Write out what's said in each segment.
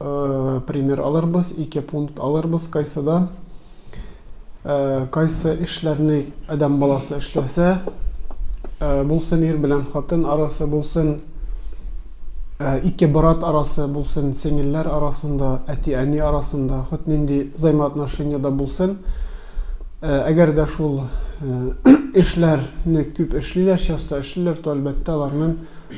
э, пример алырбыз, ике пункт алырбыз кайсыда. Э, кайсы эшләрне адам баласы эшләсә, э, булсын ир белән хатын арасы, булсын э, ике брат арасы, булсын сеңелләр арасында, әти-әни арасында, хот нинди взаимоотношениеда булсын, э, әгәр дә шул э, эшләрне күп эшлиләр, часто эшлиләр, то әлбәттә аларның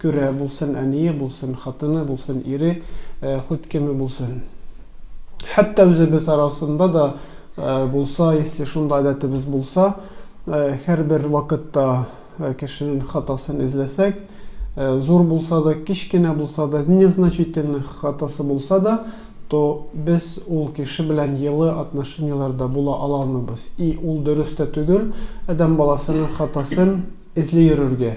Күрә булсын, әние булсын, хатыны булсын, ире, хут кеме булсын. Хәтта үзебез арасында да булса, если шундый гадәтебез булса, һәрбер вакытта кешенең хатасын эзләсәк, зур булса да, кечкенә булса да, незначительный хатасы булса да, то без ул кеше белән йылы отношениеләрдә була ала алмыйбыз. И ул дөрес тә түгел, адәм баласының хатасын эзли йөрергә.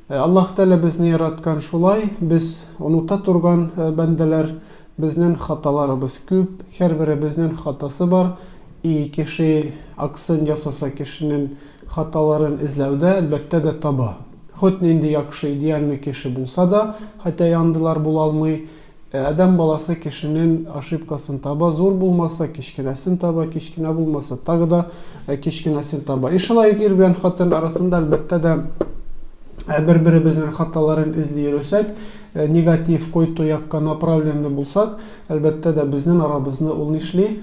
Аллаһ Тәгалә безне яраткан шулай, без оныта торган бәндәләр, безнен хаталарыбыз күп, хәрберебезнен хатасы бар, и кеше аксын ясаса кешенен хаталарын эзләүдә әлбәттә дә таба. Хут нинди якшы идеальный кеше булса да, хәтә яндылар булалмый, Ә адәм баласы кешенен ошибкасын таба, зур булмаса, кечкенәсен таба, кечкенә булмаса, тагы да кечкенәсен таба. И шулай ук ир белән хатын арасында, әлбәттә дә, бер-беребезнең хаталарын эзли йөресәк, негатив, койту якка направленный булсак, әлбәттә дә, безнен арабызны ул нишли?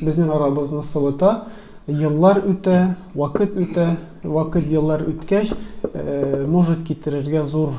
Безнен арабызны сылыта. Еллар үтә, вакыт үтә, вакыт, еллар үткәч, может китерергә зур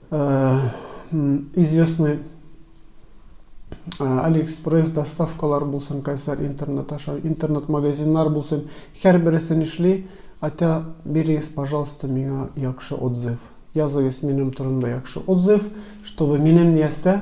Э, известный алиэкспресс доставкалар булсын кайсар интернет аша интернет магазиннар булсын һәрбересе нишли атя бирегез пожалуйста миңа яхшы отзыв языгыз минем турында яхшы отзыв чтобы минем ниястә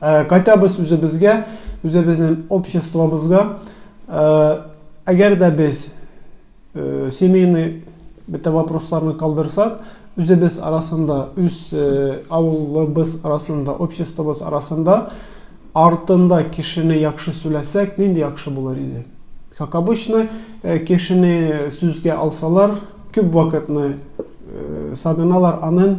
кайтабыз үзебезгә үзебезнең обществобызга әгәр дә без семейный бөтә вопросларны калдырсак үзебез арасында үз авылыбыз арасында обществобыз арасында артында кешене яхшы сүләсәк нинди яхшы булыр иде как обычно кешене сүзгә алсалар күп вакытны сагыналар анын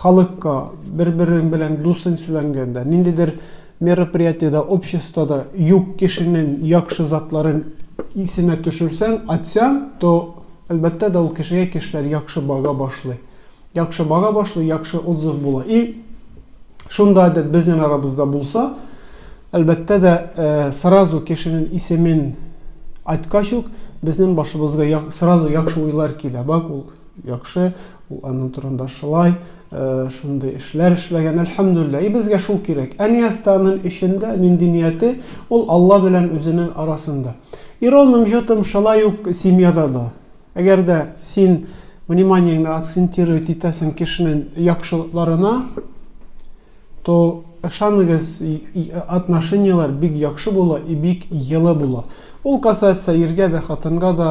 Халыкка, бер-берең белән дусың сүләнгәндә, ниндидер мероприятиедә, обществода юк кешенең якшы затларын исенә төшерсәң, атсяң, то, әлбәттә дә, ул кешегә кешеләр якшы бага башлый. Якшы бага башлый, якшы отзыв була. И шунда әдәт безнен арабызда булса, әлбәттә дә, сразу кешенен исемен айткач ук, безнен башыбызга сразу якшы уйлар килә. Бак ул. Яхшы, ул аның турында шулай, шундый эшләр эшләгән, әлхәмдүлилләһ. И безгә шул кирәк. Әниәстаның эчендә нинди нияте, ул Алла белән үзенең арасында. И ровным счетом шулай ук семьяда да. Әгәр дә син вниманиеңне акцентировать итәсең кешенең яхшылыкларына, То ышаныгыз и отношенияләр бик яхшы була и бик йылы була ул касается иргә дә хатынга да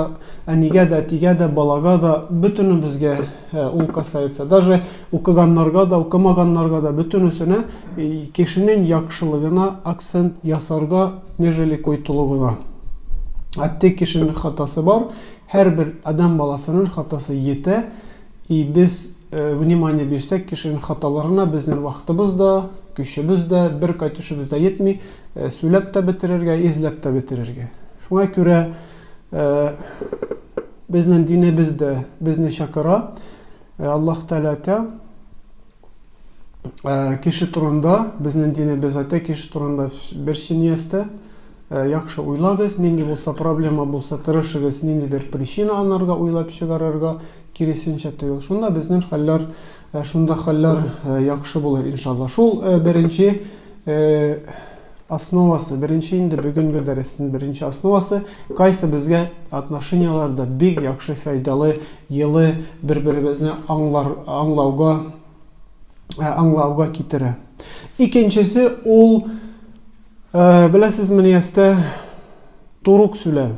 әнигә дә әтигә дә балага да бөтенебезгә ул касается даже укыганнарга да укымаганнарга да бөтенесенә кешенең яхшылыгына акцент ясарга нежели койтылугына әтте кешенең хатасы бар һәрбер адәм баласының хатасы йитә И без внимание бирсәк кешенең хаталарына безнен вакытыбыз да, көчебез дә, бер кайтышыбыз да йетми, сүләп тә бетерергә, изләп тә бетерергә. Шуңа күрә безнен динебез дә безне чакыра. Аллаһ Тәгалә әйтә. Кеше турында, безнең динебез әйтә, кеше турында бер синиястә, яхшы уйлагыз, нинди булса проблема булса, тырышыгыз, ниндидер причина анарга уйлап чыгарырга, киресенчә түгел. Шунда безнең хәлләр, шунда хәлләр яхшы булыр, иншалла. Шул беренче Основасы, беренче инде бүгенге дәресен беренче основасы, кайсы безгә отношенияләрдә бик яхшы файдалы, елы бер-беребезне аңлар, аңлауга, ә, аңлауга китерә. Икенчесе ул, ә, беләсезме, ястә турук сүләү.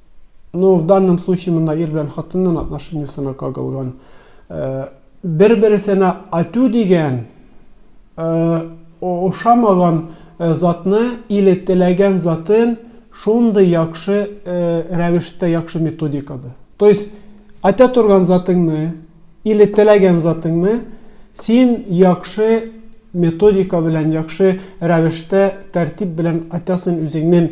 Ну, в данном случае монда ир белән хатынның отношениесына кагылган. Э, Бер-берсенә ату дигән э, ошамаган э, затны или теләгән затын шундый яхшы рәвештә, яхшы методикада. То есть, атә торган затыңны или теләгән затыңны син яхшы методика белән, яхшы рәвештә, тәртип белән атасың үзеңнең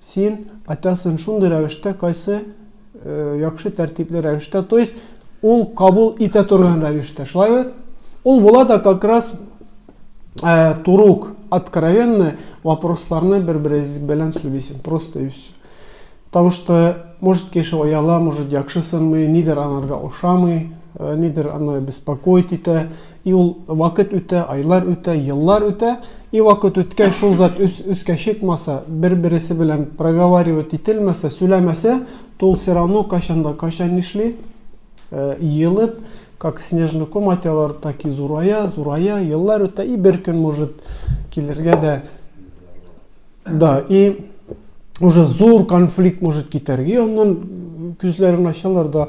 Син айтасың шундый рәвештә, кайсы яхшы тәртипле рәвештә, то есть ул кабул итә торган рәвештә. Шулай бит? Ул була да как раз э, турук, откровенно вопросларны бер-берегез белән сөйлисең. Просто и все. Потому что, может, кеше ояла, может, яхшысыңмы, нидер анарга ошамый, э, нидер аны беспокоит итә, И ул вакыт үтә, айлар үтә, еллар үтә, и вакыт үткәч, шул зат үс, үскә чыкмаса, бер-бересе белән проговаривать ителмәсә, сүләмәсә, то ул сирано кайчан да кайчан нишли? Э, елып, как снежный ком атялар, так и зурая, зурая, еллар үтә, и бер көн может килергә дә. Да, и уже зур конфликт может китәргә, и аннан күзләрен ачалар да,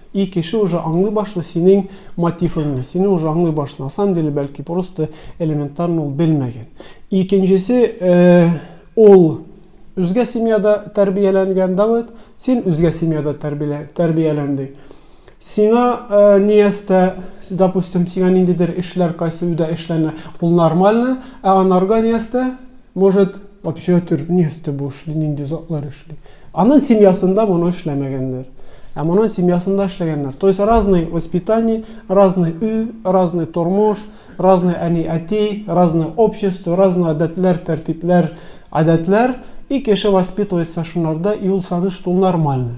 И кеше уже аңлый башлый синең мотивыңны, сине уже аңлый башлый. На самом деле, бәлки просто элементарно ул белмәгән. Икенчесе, ул үзгә семьяда тәрбияләнгән Давыт, син үзгә семьяда тәрбияләндең. Сиңа э, ниястә, допустим, сиңа ниндидер эшләр кайсы өйдә эшләнә, ул нормально, ә анарга ниястә Может, общага төрт, ни өсте бу эшли, нинди затлар эшли. Анын семьясында моны эшләмәгәннәр. Ә моның семьясында эшләгәннәр. То есть разный воспитание, разный үй, разный тормыш, разный әни әти, разный общество, разный гадәтләр, тәртипләр, гадәтләр. И кеше воспитывается шунарда, и ул саныш, что ул нормальный.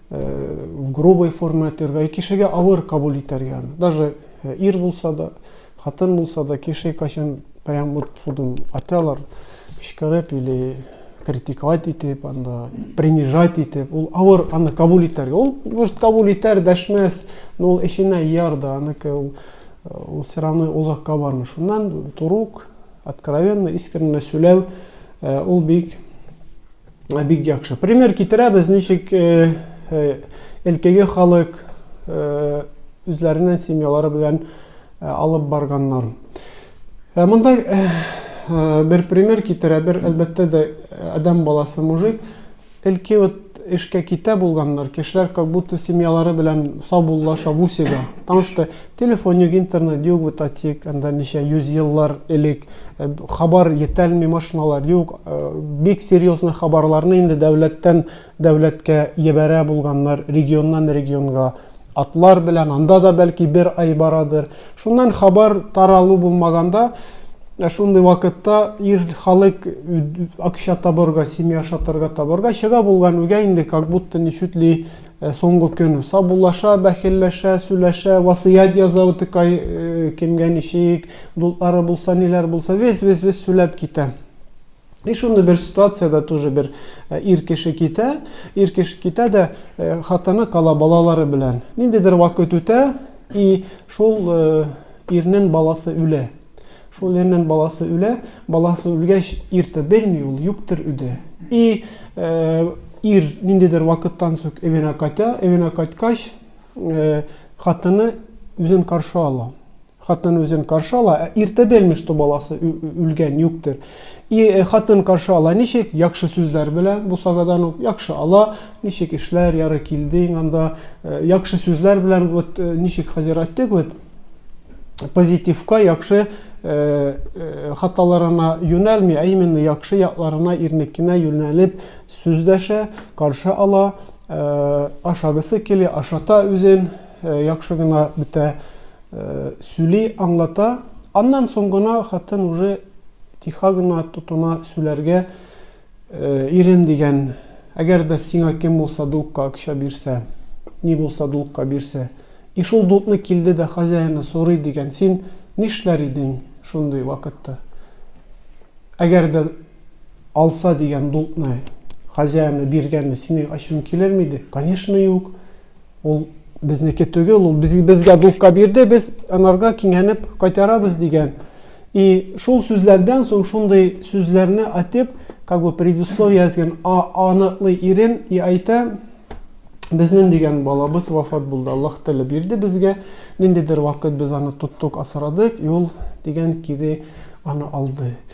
в грубой форме әйтергә, кешегә авыр кабул итәргә аны. Даже э, ир булса да, хатын булса да, кеше кайчан прям вот худым аталар, кычкырып или критиковать итеп, анда принижать итеп, ул авыр аны кабул итәргә. Ул может кабул итәр, дәшмәс, но ул эченә яр да, аныкы ул э, ул все равно озакка бармый. Шуннан турук, откровенно, искренне сөйләү, э, ул бик Бик яхшы. Пример китерәбез, ничек элкеге халык үзләренең семьялары белән алып барганнар. Ә монда бер пример китерә, бер әлбәттә дә адәм баласы мужик элки вот эшкә китә булганнар, кешеләр как будто семьялары белән саубуллаша, вусида. Потому что Телефон юк, интернет юк, бу татик, анда ничә йөз еллар элек хабар етәлми, машиналар юк, бик серьезный хабарларны инде дәүләттән дәүләткә ебәрә булганнар, регионнан регионга атлар белән, анда да бәлки бер ай барадыр. Шуннан хабар таралу булмаганда, ә шундый вакытта ир халык акча табарга, семья ашатырга табарга чыга булган, үгә инде как будто ничутли Ә соңгы көн сабулаша, бәхилләшә, сүләшә, васыять яза утыкай э, кемгә ничек, дутлары булса, ниләр булса, вес-вес-вес сүләп китә. И шуны бер ситуацияда тоже бер э, ир кеше китә, ир кеше китә дә э, хатыны кала балалары белән. Ниндидер вакыт үтә, и шул э, ирнен баласы үлә. Шул ирнен баласы үлә, баласы үлгәч ирты белми ул, юктер үде. И ир ниндидер вакыттан сүк эвенә кайта, эвенә кайткач хатыны үзен каршы ала. Хатыны үзен каршы ала, ә ирте белми, что баласы үлгән, юктер. И хатын каршы ала ничек? Якшы сүзләр белә, бу сагадан ук якшы ала, ничек эшләр, яры килдең анда, якшы сүзләр белән вот ничек хәзер әйттек вот, позитивка, яхшы Э, э, хаталарына юнәлми, ә именно яхшы якларына ирнекенә юнәлеп сүздәшә, каршы ала, э, ашагысы килә, ашата үзен, яхшы гына бетә сүли, аңлата. Аннан соң гына хатын уже тиха гына тотына сүләргә, Ирем дигән, әгәр дә сиңа кем булса дулкка акча бирсә, ни булса дулкка бирсә, и шул дулкны килде дә хозяины сорый дигән, син нишләр идең шундый вакытта? Әгәр дә алса дигән дулкны хозяины биргәнне синең ачуың килерме иде? Конечно, юк! Ул безнеке түгел, ул без, безгә дулка бирде, без анарга кингәнеп кайтарабыз дигән. И шул сүзләрдән соң шундый сүзләрне атеп, как бы предисловие язган, а аныклый ирен и айта, Безнен дигән балабыз вафат булды. Аллаһ Тәгалә бирде безгә. Ниндидер вакыт без аны тоттык, асрадык, и ул дигән кире аны алды.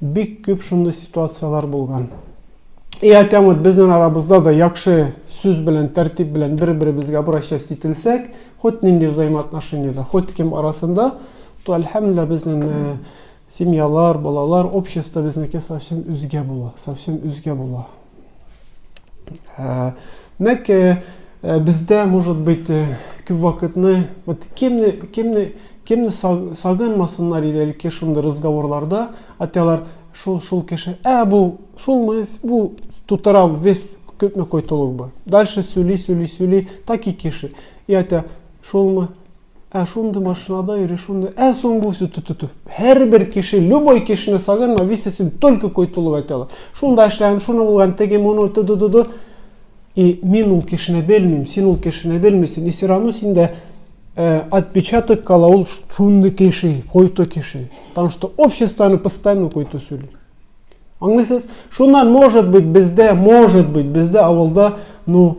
Бик күп шундый ситуацияләр булган. И әкәм вот безнең арабызда да яхшы сүз белән, тәртип белән бер-беребезгә обращаясь ителсәк, хоть нинди взаимоотношениедә, хоть кем арасында, то әлхәмдулилла безнең э, семьялар, балалар, общество безнеке совсем үзгә була, совсем үзгә була. Ә, димәк, э, э, бездә, может быть, э, күп вакытны, вот кемне, кемне, кемне сагынмасыннар иде әлеге шундый разговорларда, аталар шул шул кеше, ә бу шулмы, бу тутырау весь күпме койтылук бар. Дальше сүли, сүли, сүли, так и кеше. И әтә шулмы, Ә шундый машинада йөри, шундый, ә соң бу все ту-ту-ту. Һәрбер кеше, любой кешене сагынма, висе син только кой тулып әйтә ала. Шунда эшләгән, шуны булган, теге, моны, ту-ту-ту-ту. И мин ул кешене белмим, син ул кешене белмисең, и все равно синдә э, отпечаток кала ул шундый кеше, кой-то кеше. Потому что обществоны постоянно кой-то сөйли. Аңлыйсыз? Шуннан, может быть, бездә, может быть, бездә авылда, ну,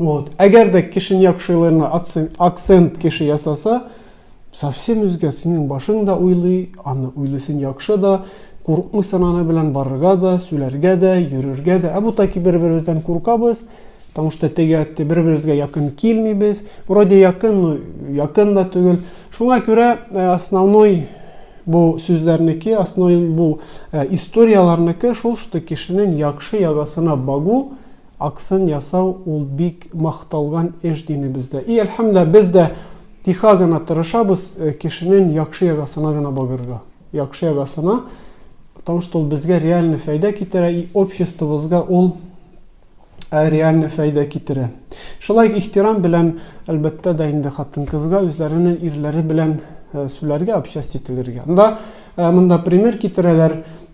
Вот. Әгәр дә Кишиньяк шигырьләренә акцент кеше ясаса, совсем үзгә синең башың да уйлый, аны уйлыйсың яхшы да, курыкмыйсың аны белән барырга да, сүләргә дә, йөрергә дә. Ә бу таки бер-беребездән куркабыз, потому что теге әтте бер-беребезгә якын килмибез. Вроде якын, но якын да түгел. Шуңа күрә э, основной бу сүзләрнеке, основной бу э, историяләрнеке шул, что кешенең яхшы ягасына багу, Акцент ясау ул бик макталган эш динебездә. И әлхәмдүлилләһ, без дә тиха гына тырышабыз кешенен якшы ягасына гына багырга. Якшы ягасына, потому что ул безгә реальный фәйдә китерә и обществобызга ул Ә реальный фәйдә китерә. Шулай ихтирам белән, әлбәттә дә инде хатын-кызга үзләренең ирләре белән сүләргә, общасть ителергә. Анда монда пример китерәләр,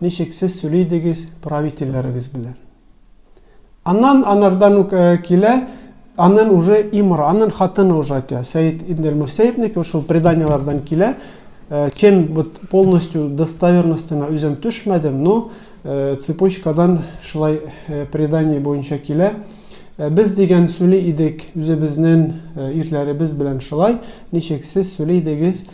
Ничек сез сөйли идегез правительләрегез белән? Аннан анардан ук э, килә, аннан уже имра, аннан хатыны уже әйтә. Сәид ибн аль-Мусәйбник шул преданиеләрдән килә. Э, чем вот полностью достоверностена үзем төшмәдем, но э, цепочкадан шулай предание буенча килә. Без дигән сөйли идек үзебезнең ирләребез белән шулай. Ничек сез сөйли идегез?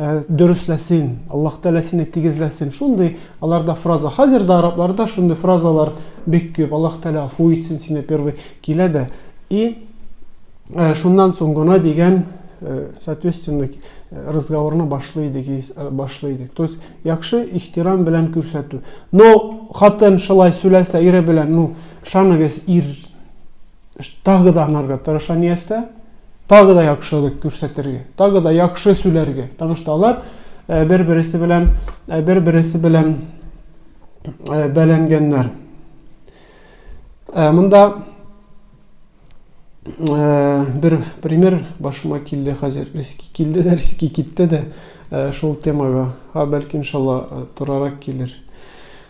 Ә, дөресләсен, Аллаһ Тәгалә сине тигезләсен. Шундый аларда фраза. Хәзер дә арабларда шундый фразалар бик күп. Аллаһ Тәгалә афу итсен сине первый килә дә. И ә, шуннан соң гына дигән э, соответственно э, разговорны башлый идек, э, башлый идек. То есть яхшы ихтирам белән күрсәтү. Но хатын шулай сөйләсә ире белән, ну, шаныгыз ир Тагы да аңарга тырыша Ниястә, тагы да яхшылык күрсәтергә, тагы да яхшы сүләргә. Потому что алар э, бер-бересе белән э, бер-бересе белән э, бәләнгәннәр. Монда бер пример башыма килде хәзер. Риски килде дә, риски китте дә шул темага. Ха, бәлки иншалла турарак килер.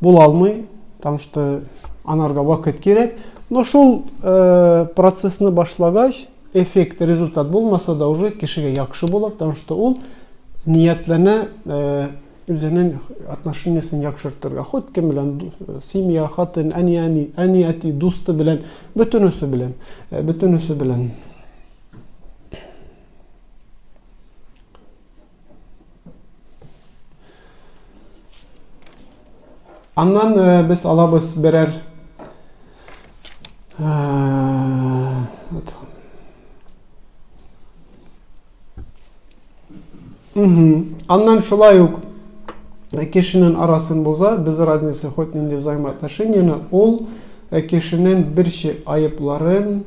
Була алмый, потому что анарга вакыт кирәк. Но шул э, процессны башлагач, эффект, результат булмаса да уже кешегә яхшы була, потому что ул ниятләнә э, үзенең отношениясен яхшыртырга. Ход кем белән э, семья, хатын, әни, әни, әни, әти, дусты белән, бөтенесе белән, э, бөтенесе белән. Аннан э, без алабыз берәр э, Аннан шулай ук э, кешенең арасын боза, без разница хоть нинди взаимоотношениены, ул кешенең бер айыпларын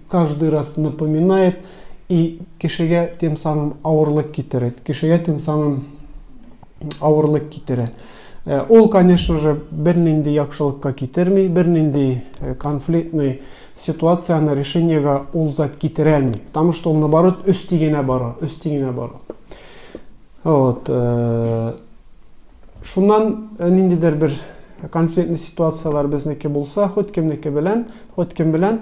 каждый раз напоминает и кешегә тем самым авырлык китерет кешегә тем самым авырлык китерә э, ул конечно же бернинди яхшылыкка китерми бернинди э, конфликтный ситуацияне решениега ул зат китерә алмый потому что ул наоборот өсти генә бара өсти генә бара вот э, шуннан ниндидер бер конфликтный ситуациялар безнеке булса хоть кемнеке белән хоть кем белән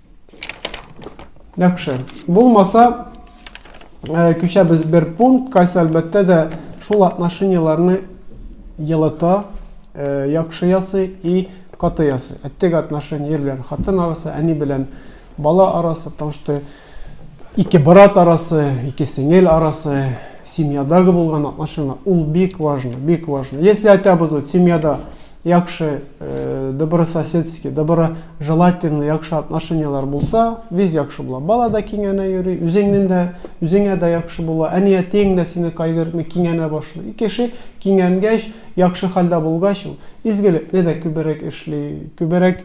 Яхшы. Булмаса, э, күчәбез бер пункт, кайсы әлбәттә дә шул отношенияләрне елыта, э, яхшы ясый и каты ясый. Әттек отношения белән хатын арасы, әни белән бала арасы, потому что ике брат арасы, ике сеңел арасы, семьядагы булган отношения, ул бик важно, бик важно. Если айтабыз вот семьяда яхшы добрососедский доброжелательный яхшы отношенияләр булса виз яхшы була бала да киңәнә йөри үзеңнең дә үзеңә дә яхшы була әни әтиең дә сине кайгыртмый киңәнә башлый кеше киңәнгәч яхшы хәлдә булгач ул изгелекне дә күберәк эшли күберәк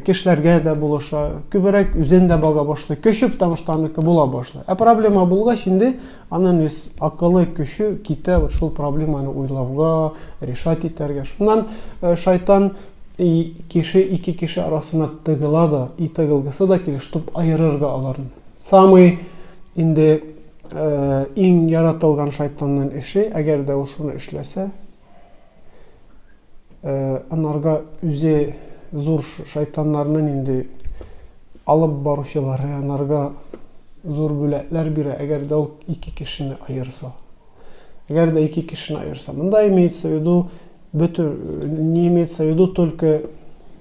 кешеләргә дә булыша күберәк үзен дә бага башлый көче потому что аныкы була башлый ә проблема булгач инде Анын вес акылы көчү китә вот шул проблеманы уйлауга, решать итәргә. Шуннан шайтан и кеше ике кеше арасына тыгыла да, и тыгылгысы да килеш туп аерыр да аларны. Самый инде иң яратылган шайтаннын эше, әгәр дә ул шуны эшләсә, Анарга үзе зур шайтаннарны нинди алып баручылары анарга зур бүләкләр бирә, әгәр дә ул ике кешене аерса. Әгәр дә ике кешене аерса. Монда имеется в виду, бөтен, не имеется в виду только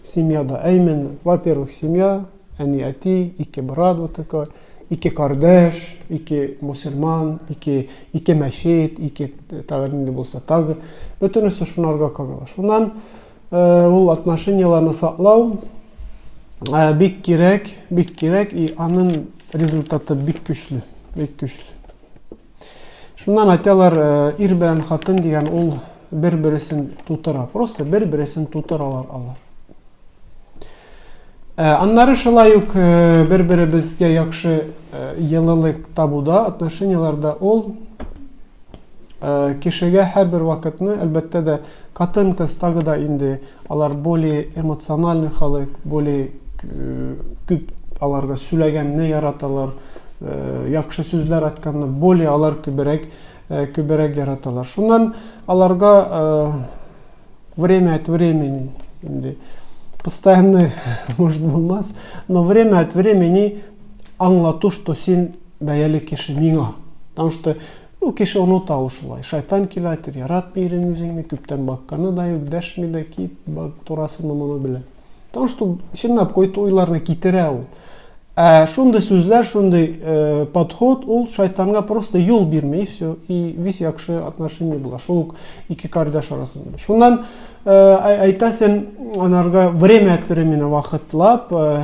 семьяда, а именно, во-первых, семья, Әни, әти, ике брат вот такой, ике кардәш, ике мусульман, ике, ике мәчет, ике тагы нинди булса тагы. Бөтенесе шунарга кагыла. Шуннан э, ул отношенияләрне саклау э, бик кирәк, бик кирәк, и аның результаты бик көчле, бик көчле. Шуннан айталар, ир белән хатын дигән ул бер-бересен тутыра. Просто бер-бересен тутыралар алар. Э, аннары шулай ук э, бер беребезгә яхшы йылылык э, табуда отношенияләрдә ул кешегә һәрбер вакытны әлбәттә дә Катын-кыз тагы да инде алар более эмоциональный халык, более күп аларга сүләгәнне яраталар, яхшы сүзләр айтканны более алар күберәк күберәк яраталар. Шуннан аларга время от времени инде постоянно может булмас, но время от времени аңлату, что син бәяле кеше миңа. Потому что Ну кеше оныта ул шулай, шайтан килә әйтер, яратмый ирең үзеңне, күптән бакканы да юк, дәшми дә кит, бак турасыны моны белә. Потому что чынлап какой-то уйларны китерә ул. Ә шундый сүзләр, шундый э, подход ул шайтанга просто юл бирми и все, и весь якшы отношение була. Шул ук ике кардәш арасында. Шуннан э, әйтәсен анарга время от времени вакытлап э,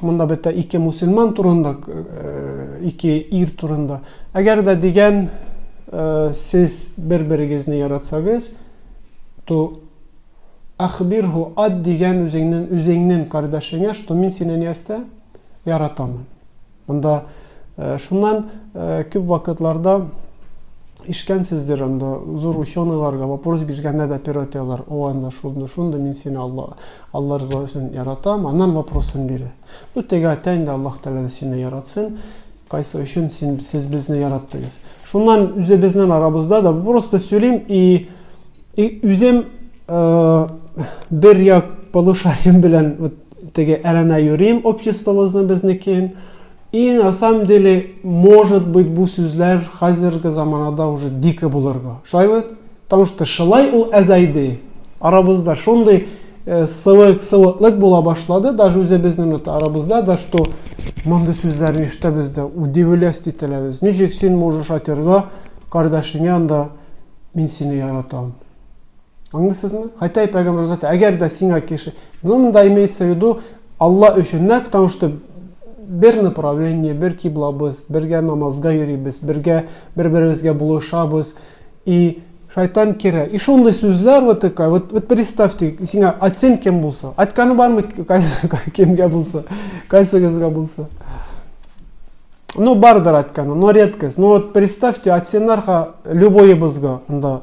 Монда бетә ике мусульман турында, э, ике ир турында. Әгәр дә дигән э, сез бер-берегезне яратсагыз, то ахбирху ад дигән үзеңнен үзеңнен кардәшеңә, что мин сине нәрсә яратамын. Анда шуннан күп вакытларда ишкәнсездер анда зур ученыйларга вопрос биргәндә дә пиротелар о анда шунда шунда мин сине алла алла риза өчен яратам аннан вопросын бирә бу теге әйтә инде аллаһ тәгалә сине яратсын кайсы өчен син сез безне яраттыгыз шуннан үзебезнең арабызда да просто сөйлим и и үзем бер як полушарием белән вот Теге әрәмә юрим обществомызны безнекен. И на самом деле, может быть, бу сүзләр хәзерге заманада уже дико булырга. Шулай бит? Потому что шулай ул әзәйде. Арабызда шундый э, сылык, сылыклык була башлады, даже үзебезнең вот арабызда да, что мондый сүзләрне ишетәбез дә, удивлясь ителәбез. Ничек син можешь атырга кардәшеңә анда мин сине яратам. Аңлыйсызмы? Хотя и пәйгамбер заты, әгәр дә сиңа кеше, ну монда имеется в виду Алла өчен, нәкъ потому что бер направление, бер киблабыз, бергә намазга йөрибез, бергә бер-беребезгә булышабыз и шайтан керә. И шундый сүзләр вот такая, вот, вот представьте, сиңа атсен кем булса, атканы бармы кемгә булса, кайсыгызга булса. Ну, бардыр атканы, но редкость. Ну вот представьте, атсеннарга любойыбызга анда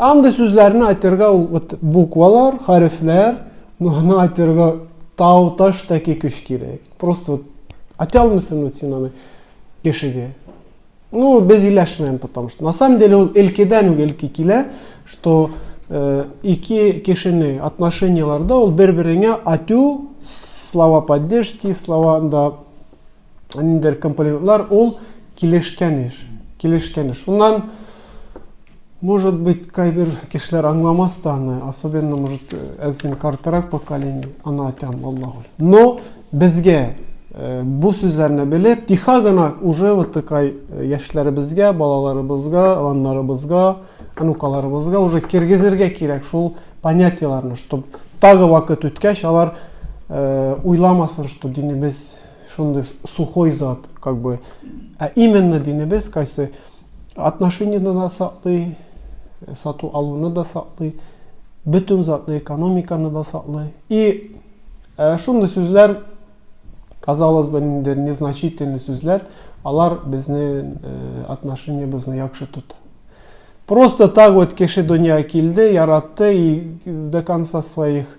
Андый сүзләрне әйтергә ул вот буквалар, хәрефләр, но аны әйтергә тау таш тәки көч кирәк. Просто вот әйтә алмыйсың вот син аны кешегә. Ну, без иләшмәем, потому что на самом деле ул элкедән үк элки килә, что э, ике кешене отношенияләрдә ул бер-береңә атю, слова поддержки, слова анда ниндидер компонентлар, ул килешкән еш. Килешкән еш. Шуннан, может быть, кайбер кешеләр аңламас та аны, особенно, может, әз генә картырак поколение, аны айтам, Аллах ур. Но безгә э, бу сүзләрне белеп, тихо гына уже вот такай э, яшьләребезгә, балаларыбызга, аннарыбызга, анукаларыбызга уже киргизергә кирәк шул понятиеләрне, чтобы тагы вакыт үткәч алар э, уйламасын, что динебез шундый сухой зат, как бы, ә именно динебез кайсы отношенияны да саклый, сату алуны да саклый, бөтен затны, экономиканы да саклый. И ә, шундый сүзләр, казалось бы, инде незначительный сүзләр, алар безнең э, отношениебезне яхшы тота. Просто так вот кеше дөнья килде, яратты и до конца своих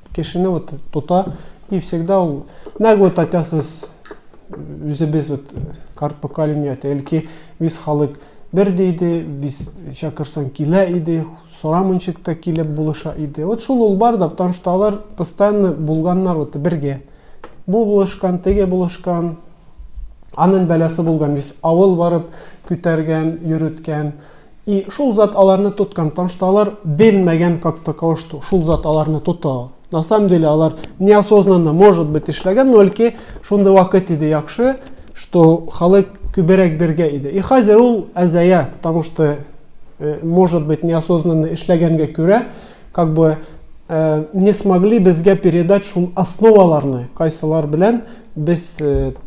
Кешене вот тота, и всегда ул, нәкъ вот айтасыз, үзебез вот карт поколение, әлки без халык бер диде, без чакырсаң килә иде, сорамынчык та килеп булыша иде. Вот шул ул бар да, потому что алар постоянно булганнар вот бергә. Бу булышкан, теге булышкан, анын бәләсе булган, без авыл барып күтәргән, йөрүткән, И шул зат аларны тоткан, тан што алар белмәгән как таково, што шул зат аларны тота. На самом деле алар неосознанно, может быть, эшләгән, но әлки шундый вакыт иде яхшы, што халык күберәк бергә иде. И хәзер ул әзая, потому что, э, может быть, неосознанно эшләгәнгә күрә, как бы не смогли безгә передать шул основаларны, кайсылар белән без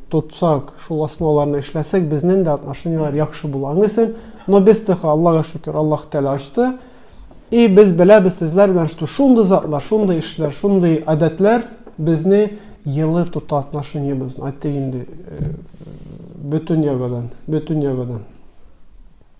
тотсак, шул основаларны эшләсәк, безнең дә отношенияләр яхшы була. Аңлыйсың? Но без тыха, Аллага шөкер, Аллаһ Тәгалә ачты. И без беләбез сезләр белән, что шундый затлар, шундый эшләр, шундый гадәтләр безне елы тота отношениебезне. Әйтик инде, бөтен ягыдан, бөтен ягыдан.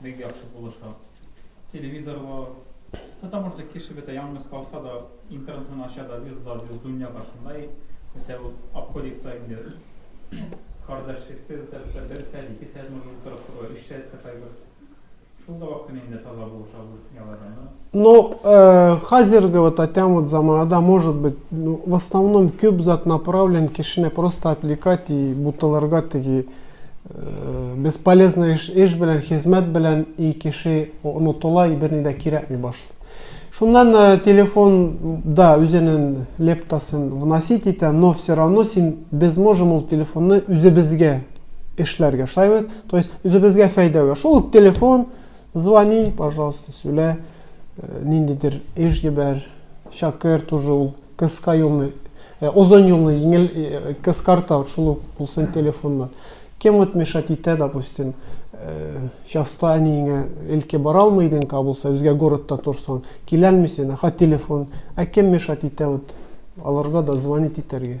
Бик яхшы булыша. Телевизор бар. Потому что кеше бетә яңгыз калса да, интернетын ача да, вез за вез дөнья каршында и бетә ул обходится инде. Кардәшсез дә бетә, бер сәгать, ике сәгать может утырып тору, өч сәгатькә кадәр. Шул да вакытны инде таза булыша бу. Но э, хәзерге вот атям вот заманада, может быть, ну, в основном күп зат направлен кешене просто отвлекать и бутылырга теги э, бесполезный эш, эш белән, хезмәт белән и кеше онытыла и берни дә кирәкми башлый. Шуннан э, телефон, да, үзенең лептасын вносить итә, но все равно син без можем ул телефонны үзебезгә эшләргә, шулай бит? То есть үзебезгә фәйдәгә. Шул телефон, Звони, пожалуйста, сөйлә, э, ниндидер эш җибәр, шакер тоже ул кыска юлны, э, озын юлны еңел э, кыскарта, вот шул ук булсын телефоннан. Кем вот мешать итә, допустим, э, часто әниеңә илке бара алмый идең ка булса, үзгә городта торсаң, киләлмисең, ә хат телефон, ә кем мешать итә вот аларга да звонить итәргә.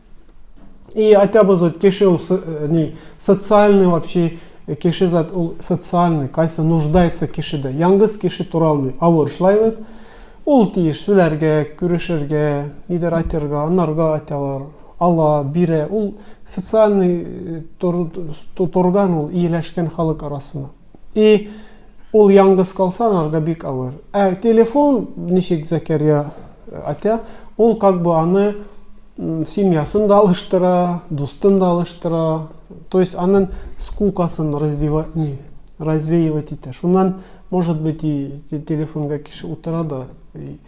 И хотя бы зат кеше ул э, ни социальный вообще э, кеше зат ул социальный кайсы нуждается кешедә яңгыз кеше тора алмый авыр шулай бит ул тиеш сүләргә күрешергә нидер айтырга анарга айталар ала бирә ул социальный э, торган ул ияләшкән халык арасына И ул яңгыз калса анарга бик авыр. Ә телефон ничек Зәкәрия атя, ул как бы аны семьясын да алыштыра, дустын да алыштыра. То есть анын скукасын развива, не, развеивать итә. Шуннан, может быть, и телефонга кеше утыра да.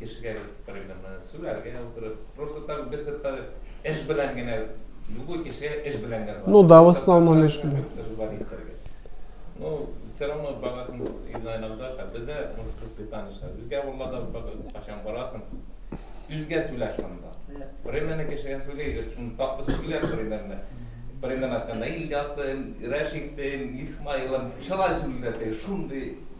Кешегә бит примерно сүләр генә утырып, просто так без хәтта эш белән генә, любой кешегә эш белән генә Ну да, в основном эш белән. Ну, все равно барасың иногда иногда ша, бездә может воспитание ша, үзгә авылларда бер качан барасың, үзгә сүлә шунда. Примерно кешегә сүли, шуны тапты сүлә примерно. Примерно әйткәндә Ильясым, Рәшитем, Исмаилым, шулай сүлдәтә, шундый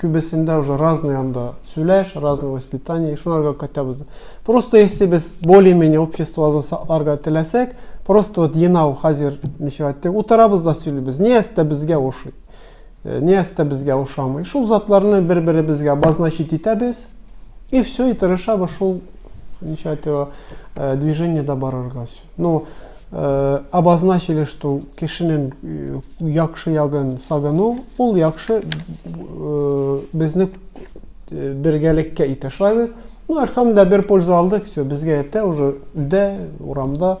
Күбесендә уже разный анда сөйләш, разный воспитание, шуларга кайтабыз. Просто если без более-менее обществоны сакларга теләсәк, просто вот енау хәзер ничек әйтте, утырабыз да сөйлибез. Ни әстә безгә ошый? Э, ни әстә безгә ошамый? Шул затларны бер-беребезгә обозначить итәбез. И все, и тырышабыз шул ничек әйтте, э, движениедә барырга. Ну, э, обозначили, что кешенең э, яхшы ягын сагыну, ул яхшы э, безне э, бергәлеккә итә. Шулай бит? Ну, әлхәмдә бер польза алдык, все, безгә ятә уже өйдә, урамда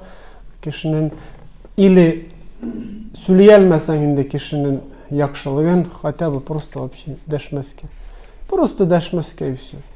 кешенең или сөйли алмасаң инде кешенең яхшылыгын, хотя бы просто вообще дәшмәскә. Просто дәшмәскә и все.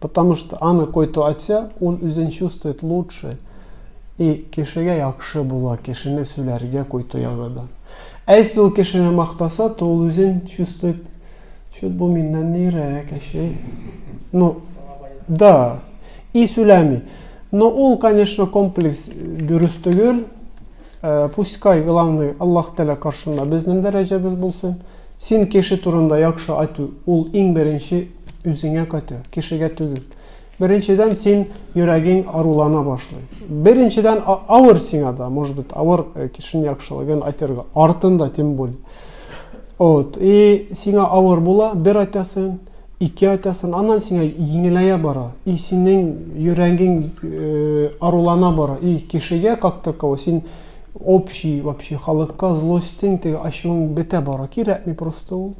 Потому что аны кой-то айтса, ул үзен чувствует лучше. И кешегә яхшы була кешене сүләргә кой-то ягыдан. Ә если ул кешене мактаса, то ул үзен чувствует, чё бу миннән нирәк, әче. Ну, да. И сүләми. Но ул, конечно, комплекс дөрес түгел. Э, пускай главный Аллах Тәлә каршында безнең дәрәҗәбез булсын. Син кеше турында яхшы айту, ул иң беренче үзеңә кайту, кешегә түгел. Беренчедән, син йөрәгең арулана башлый. Беренчедән, авыр сиңа да, может быть, авыр э, кешенең яхшылыгын айтырга, артында тем более. Вот. И сиңа авыр була, бер айтасың, ике айтасың, аннан сиңа еңеләя бара. И синең йөрәгең э, арулана бара. И кешегә как таково син общий вообще халыкка злостың, теге ачуың бетә бара. Кирәкми просто ул.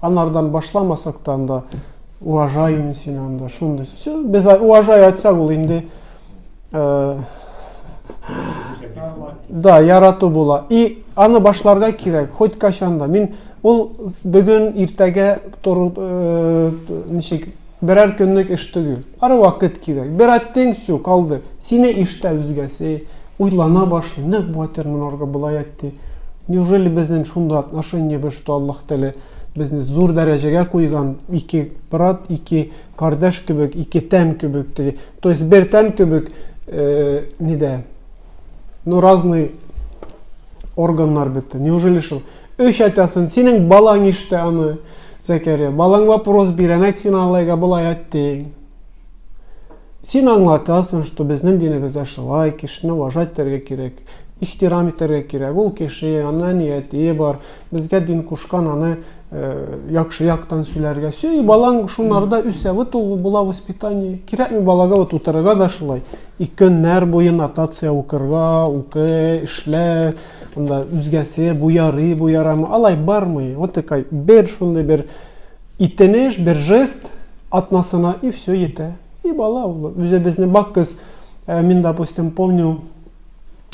Анардан башламасак та анда уважаем син анда шундый все без уважай айтсак ул инде э, да ярату була и аны башларга кирәк хоть качанда мин ул бүген иртәгә тору э, ничек Берәр көнлек эш түгел. Ары вакыт кирәк. Бер әттең, всё, калды. Сине ишетә үзгәсе, уйлана башлый, нык батырмын аргы болай әтте. Неужели безнең шундый отношениебез, что Аллаһ Тәгалә безне зур дәрәҗәгә куйган, ике брат, ике кардәш кебек, ике тән кебек теге, то есть бер тән кебек, нидә, ну разный органнар бетте. Неужели шул? Үч атасын, синең балаң иште аны, Зәкәрия. Балаң вопрос бирә, нәк син алайга болай әттең. Син аңлатасың, что безнең динебездә шулай, кешене уважать итәргә кирәк, ихтирам итәргә кирәк. Ул кеше, аны әниятие бар, безгә дин кушкан аны э, яхшы яктан сөйләргә. Все, и балаң шунларда үсә. Вот ул була воспитание. Кирәкми балага вот утырырга да шулай. И көннәр буе нотация укырга, укы, эшлә, Анда үзгәсе, бу ярый, бу ярамый, алай бармый. Вот такой бер шундый бер итенеш, бер жест атнасына и все ете. И бала ул үзебезне бак без э, мин допустим помню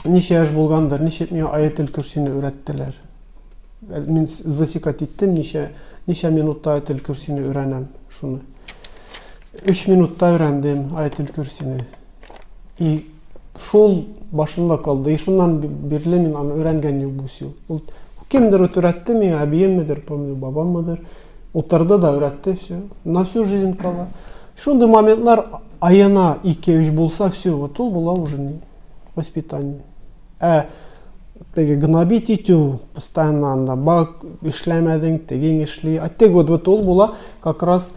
ничә яшь булгандыр, ничек миңа аятел көрсине өйрәттеләр. Э, мин засекать иттем, ничә ничә минутта аятел көрсине өйрәнәм шуны. 3 минутта өйрәндем аятел көрсине. И шул башымда калды. И шуннан бирле мин аны өйрәнгән юк бу сил. Ул кемдер өйрәтте миңа, әбиеммедер, помню, бабаммыдыр. Утырды да өйрәтте все. На всю жизнь кала. Шундый моментлар аена 2-3 булса все, вот ул була уже не воспитание. Ә теге гнобить итү постоянно анда, бак, эшләмәдең, тегең эшли. А тег вот, вот ул була как раз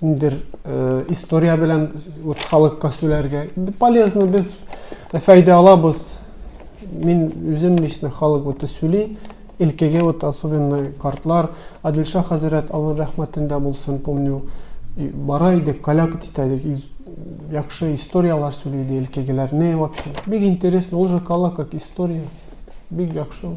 Ниндер э, история белән вот халыкка сөйләргә полезно без файда алабыз. Мин үзем лично халык вот сөйли, илкеге вот особенно картлар, Адилша хәзрәт Аллаһ рәхмәтендә булсын, помню, бара идек, коляк итә идек, яхшы историяләр сөйли иде илкегеләр. Не вообще. Бик интересно, ул же кала как история. Бик яхшы.